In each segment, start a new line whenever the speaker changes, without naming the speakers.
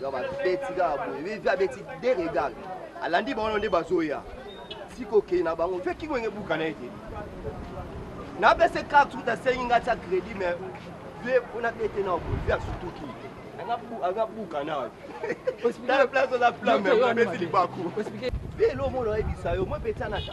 donc babeti kaka boye vivi abeti de regal alandi bango nde bazoya sikokei na bango mpe kingwenge ebuka na ye te napese carte uta asengi ngai tia crédit mais vie mpo nabete na boye vie asutuki aza buka na place oza flamme apesi libaku vie elo omona oyebisa yo mwe mpe tianaka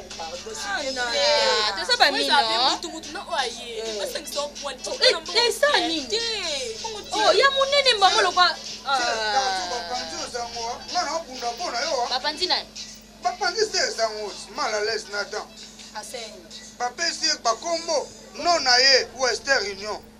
toza
bamino ya monene mbango lokwa bapanzi naye bapanzi se
ezango mal à l'aise na temps
bapesi ye
bakombo no na ye western union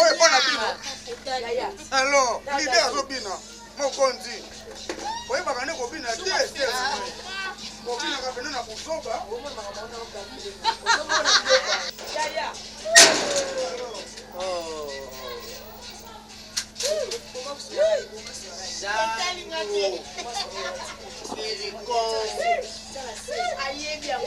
oyo epa na bino alo lide azobina mokonzi oyebaka nde kobina te te kobinaka pene na buzoba ayebi yango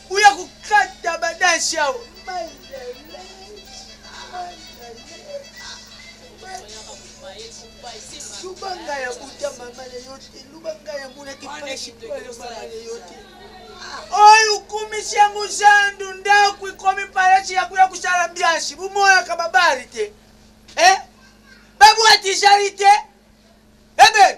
Boya kokata ba danse awa. Luba
nga ya buta mama na yo te, luba nga ya muna kipashi mama na yo te. Oyo okumisi yango zandu ndako ekomi palasi ya kuya kosala mbiasi, bomonaka babari te eh? babwati ezali te ebe eh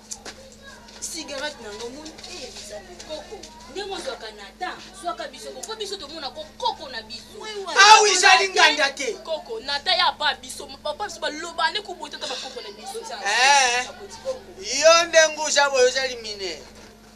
cigarette na ngo moni eh bizali koko ndenge ozwaka na ta zwaka biso koko biso tomona ko koko na biso awi ah ezali
nganda te koko na ta ya pa
biso papa biso baloba nde kobota ta bakoko na biso eh.
yo ndenge oza boye ozali minere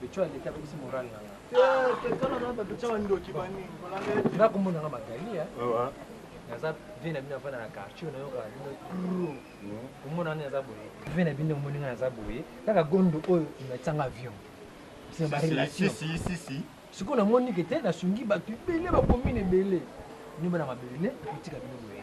Pecho aleki abebisi
morale na nga. Nga kombo na
nga Magali ya. Naza vie na bino afanda na quartier oyo nayoka bino turo. Komona nani naza boye. Vie na bino omoni nga naza boye. Kaka gondo oyo natyanga avion. C'est ma relation. Si si si si.
Sikoyo namoni ke
te nasungi bato ebele bakomi na ebele. Nyoba na mabele otika bino boye.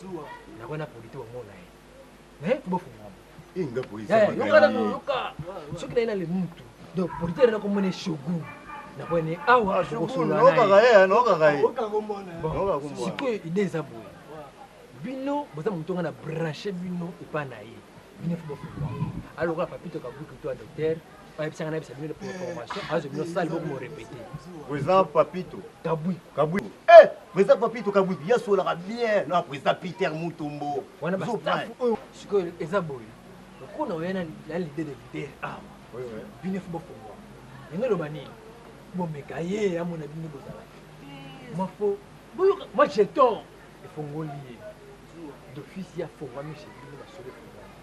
zuwa na bana polite omona ye naye kobofungama
eh, yoka
soki naye nale mutu donc polite ere nakomona eshogun nakwene awa ah, sikoyo ide eza boye bino boza moto nga na branche bino epa na ye bino fo bofungama alokola papito kabuki to ya docteur bayebisaka nayebisa bino pour information azo bino sale boko morepete président
papito kabwi kabwi
eh
président papito kabwi yasolaka bien na président peter mutombo wana bastaff oyo
sikoyo eza boye lokola oya na lide de leader awa bino fo bofongwa yango eloba nini bomeka ye amona bino bozala mafo boyoka moi j'ai tort efongoli ye d'office ya fongwami chez bino basolo efongwami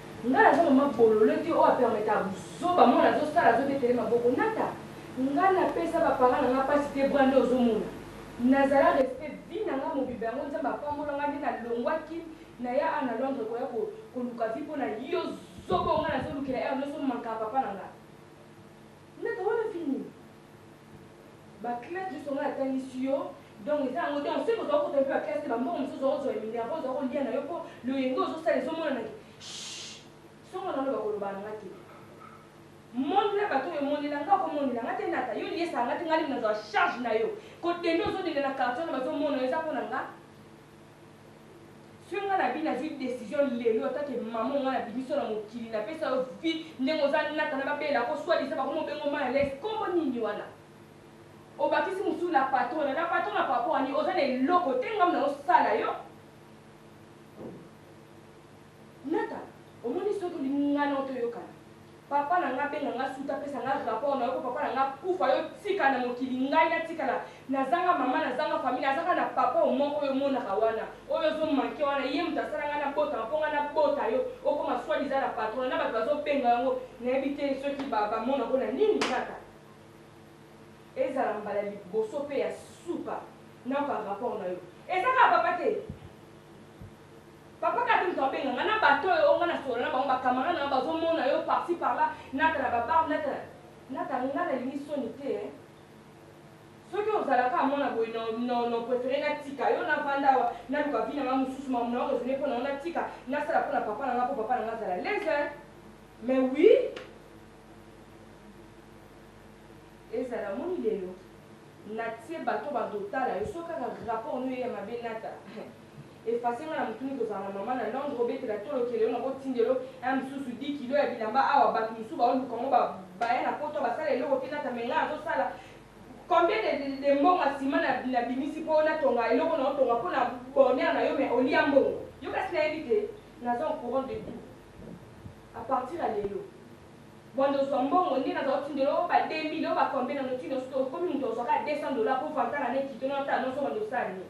Nga naza maman bolole te oyo a permetaka buzoba mwana azo sala azo betele maboko nata nga na pesa ba parents nanga pasi te bra nde ozo mona na zala respect vie nanga mobimba yango nzambe a pambola nga nde na longua kin na ya awa na londre ko ya ko ko luka vie pona yo zoba oyo nga nazo lukela heure nioso manka ya papa nanga nata wana vie nini Ba classe juste nga na tangisi yo donc eza yango donc soki oza kota pe ba classe te ba mbongo mususu oza kozwa minerva oza kolia na yo po loyenge ozo sala ezo monana ke shhh soki nga na loba koloba na nga te monde na bato oyo emonela nga ko monela nga te nata yo liesa nga te nga limu nazwa charge na yo ko dende ozo dende na quartier wana bazo mona yo eza pona nga Soki nga na bini na zui decision lelo en tant que maman nga na bimisi yo na mokili na pesa yo vie ndenge oza nata na ba bella ko soit disant bakomi obenga mayi à l'aise kombo nini wana obakisi mususu la patrona la patrona par rapport à nini oza na eloko te nga muna osala yo Nata omoni soki olingi nga na yo to yokana papa na nga abenga nga suta apesa nga rapport na yo po papa na nga akufa yo tika na mokili ngai na tikala na zanga maman na zanga famille naza kaka na papa oyo moko oyo omonaka wana oyo ozo manque wana ye mutu asala nga na botama po nga na bota yo okoma soit disant la patrona na batu bazo benga yango na yebi te soki ba ba mona ngo na nini nata ezala mbala liboso pe ya suka na yoka rapport na yo eza kaka papa te. Papa kaka te moto abenga nga na bato oyo o nga na solola na bango ba camarade na nga bazo mona yo par ci par là nata na ba bar nata na nata nga na lingi soni te hein soki ozala kaka mwana boye na na na prefere na tika yo na vanda awa na luka vie na nga mususu mamu na yo raisonne pona yo na tika na sala pona papa na nga po papa na nga azala laise hein mais oui ezala moni lelo
na tie bato bazo tala yo soki kaka rapport no ye ya mabe nata Efface nga na mutuni kozala na maman na londre obetela tolo keleyo na ko tindelo ya misusu 10 kilos ya bilamba awa batu misusu bao luka ngo ba baya na poto ba sala eloko te nata mais nga nazo sala combien de de mbonga ciment na na bimisi po na tonga eloko nao tonga pona bonheur nayo mais olia mbongo yo kasi na yebi te naza au courant de tout a partir ya lelo banda ozua mbongo nde naza otindelo yo ba 2000 yo ba combien nano ti nosuka okomi mutu azua kaka 200 dollars po vanta na ne kito nao tala noso banda osala nini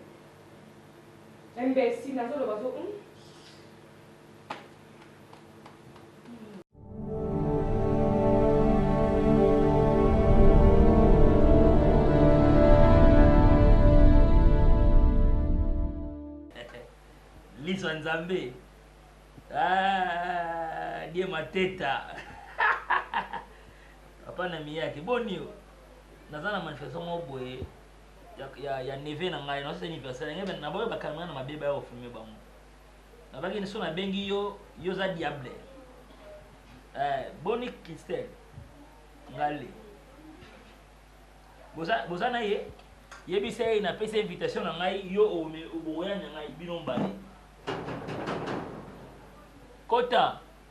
Imbecile nazo loba zo
hum. Liso ya Nzambe. Ah, die mateta. Papa na miyake boni yo. Naza na manifestation moko boye. ya, ya, ya neve na ngai naosa anniversaire na ngai naboya bakamera na mabe baya kofilme bango nabaki so nabengi yo yo oza diable eh, boni christelle ngale boza, boza na ye yebisa ye napesi invitation na ngai yo oboya na ngai bino mbale kota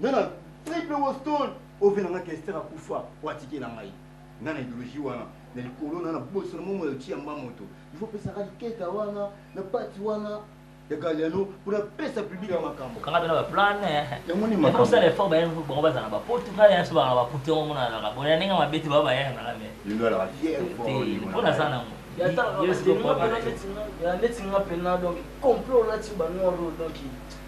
nga na triple woston ove na nga kester akufa po atikela ngai nga na ideologie wana na likolo na na boso na momo ya otia mba moto il faut pesa ka liketa wana na pati wana ya galiano pona pesa public ya makambo kanga bena ba plan
yango ni makambo
ça les fort ba yango
ba bazana ba potu ka ya so ba ba potu yango mona na ba ya ninga mabeti ba ba ya na la me ni ndo la fier
fort ni mona sana
ngo ya ta ya
neti nga pena donc complot là tu ba noir donc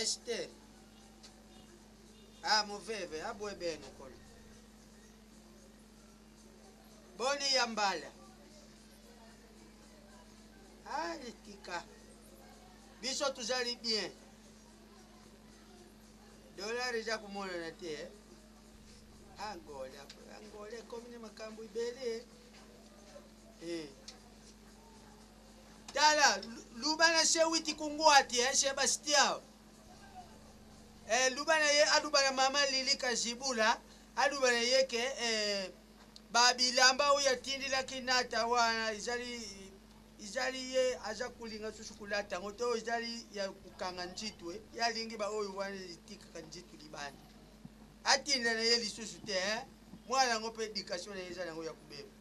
Eshte ah moveve abwe beno kolo boni ya mbala ah litika biso tuzali bien dollar eza komonana te eh? angole angole ekomi na makambo ebele eh. Tala, luba na sewiti kunguati eh, Sebastião. Eh, luba na ye aluba na mama Lili Kazibula, aluba na ye ke eh, ba bilamba oyo atindilaki nata wana ezali ezali ye aza kolinga susu kolata yango to ezali ya kokanga nzitwe eh. ye alingi baoyo wana etikaka nzitwe libanda atinda na ye lisusu te eh. mwana yango mpe edikatio na ye eza na yango ya kobeba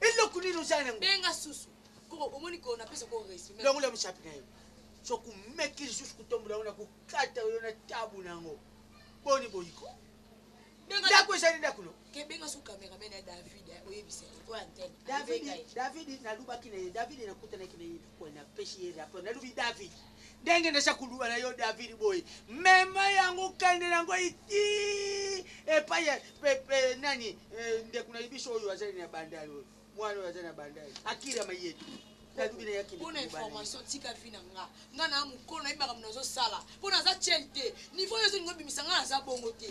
eloko nini ozala nango benga susu
koko omoni ko napesa ko respect longola mosapi na yo
soki omeki lisusu kotombola yango na kokata yo na tabu na yango boni boyiko ndako ezali ndako no kebenga su cameraman
ya david eh, oyebisa ye oyo antene david david
nalubaki na ye david nakutanaki na ye Oyo napesi ye rapport, nalobi David, ndenge naza koluba na yo David boye, mema yango kende na yango iti epai ya nani, eh, ndeko na biso oyo azali na bandal oyo, mwana oyo azali na bandal, Akira Mayetu. mpo na information
tika vi na nga nga na mokolo nayebi makambo nazosala mpo naza chel te niveau oyo ezolinga obimisa nga naza bongo te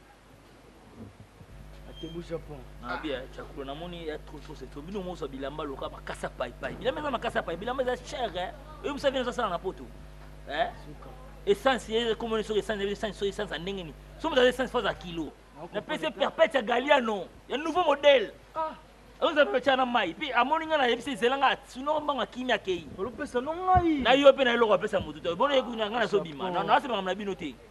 Atebu Japon. Na bien, ah. chakulo
na moni ya trop trop c'est bino mozo bilamba loka makasa pai pai. Bilamba eza makasa pai, bilamba eza cher hein. Oyo musa vient sala na poto. Hein? Essence ye comme on soki essence, essence soki essence ndenge ni. Somo za essence fois à kilo. Na pese perpète ya Galliano, ya nouveau modèle. Ah. oza peca na mai mpe amoni ngai nayebisi ezela ngai sino mbanga kimi akei
na yo mpe na eloko apesa
motu te bona ye kuna ngai nazobima nasemaka na bino te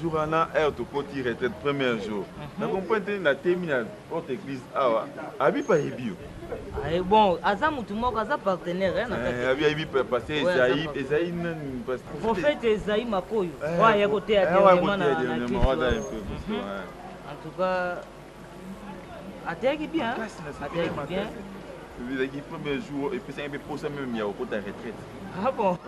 jour wana heure tokoti retraite premier jour mhm. na comprendre te na temi na porte église awa abipa ayebi yo aye ah, bon
aza motu moko aza partenaire eh, eh, abi ayebi
passe ezai ezai nani prophète
ezai makoyo eh, oyo aya koteya dernièrement na en tout cas ateyaki bien ateyaki bien ezalaki
premier jour epesaki mpe posa meme ya kokota retraite ah
bon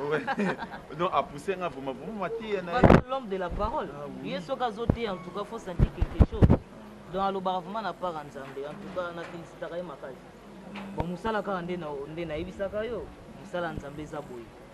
donc apousse nga vraiment vraiment mateya na l'homme
de la parole ah ye soki azoteya en tout cas faut sentir quelque chose donc alobaka vraiment na part ya nzambe en tout cas na felicitaka ye makasi bon mosala kaka nde nayebisaka yo mosala ya nzambe eza boye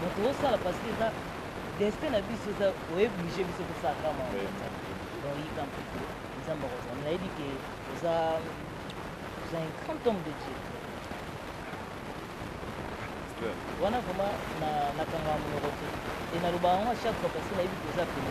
mais tozosala parce que eza destin na biso eza oeblige biso tosala kama donc yika mpe nzambe akozala nayebi ke oza oza un grand homme de dieu wana vraiment nakanga monoko te e naloba yango chaque fois parce que
nayebi ke oza pene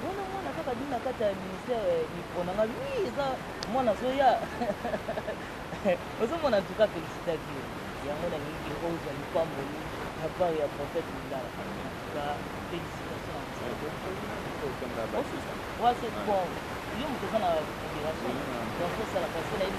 Wana mwana kaka bimi na kati ya ministère eh, micro na nga oui eza mwana azoya ozomona en tout cas félicitateur yango na lingi ozwa lipamboli na part ya prophète lingala en tout cas félicitations wa c'est bon yo moto oza na libération donc osalaka se nayebi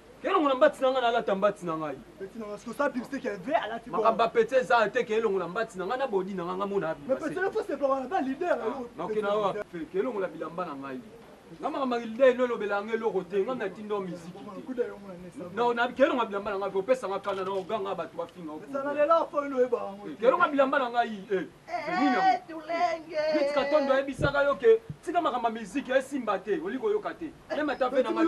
Elongo na mbati na ngai nalata mbati na ngai. Petit na ngai siko sa publicité
qui est vrai alati bon. Makambo ya petit eza te
ke elongo na mbati na ngai na body na ngai ngai mona abima. Mais petit na faut se pas wana
ba leader na yo. Na okena wa
fe ke elongo na bilamba na ngai. Nga makambo ya leader no lobela ngai eloko te ngai na tindo miziki te. Na na ke elongo na bilamba na ngai opesa ngai kanda na oganga bato bafinga. Sana lelo fo ino
eba. Ke elongo na bilamba na
ngai eh. Eeh tulenge. Ruth katondo ayebisaka yo que tika makambo ya musique esimba te olingi koyoka te meme ata vie na nga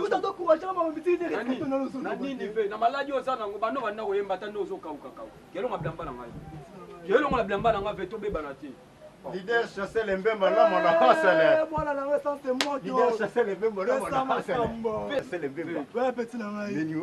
na nini
vie na maladi
oza nango banda obanda koyemba ata nde ozokauka kauka kelonga bilamba na ngai kelongola bilamba na ngai vie tobebana te Leader chassel
et mbemba la mona hasele. Mwana na wesa c'est
moi qui. Leader chassel et mbemba la
mona hasele. Chassel et
mbemba. Ouais petit na ngai. Nini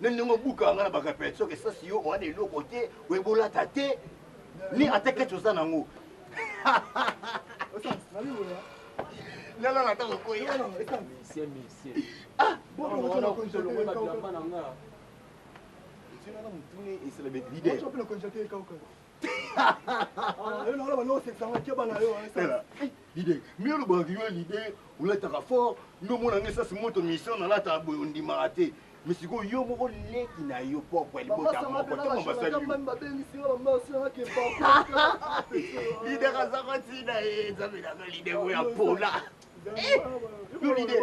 na ndenge obuka nga na ba repetition ke sasi yo owana eloko te oyeba olata te ni ata keti oza nango nalala ata kokoya motuna Leader mais yo lobaka yo leader olataka fort yo omona nga esasi moto mission nalataka boye ondimaka te mais sikoyo yo moko leki na yo poko ya libota moko ntango basali leader azaka ntina ye nzambe nazo leader oyo apola yo leader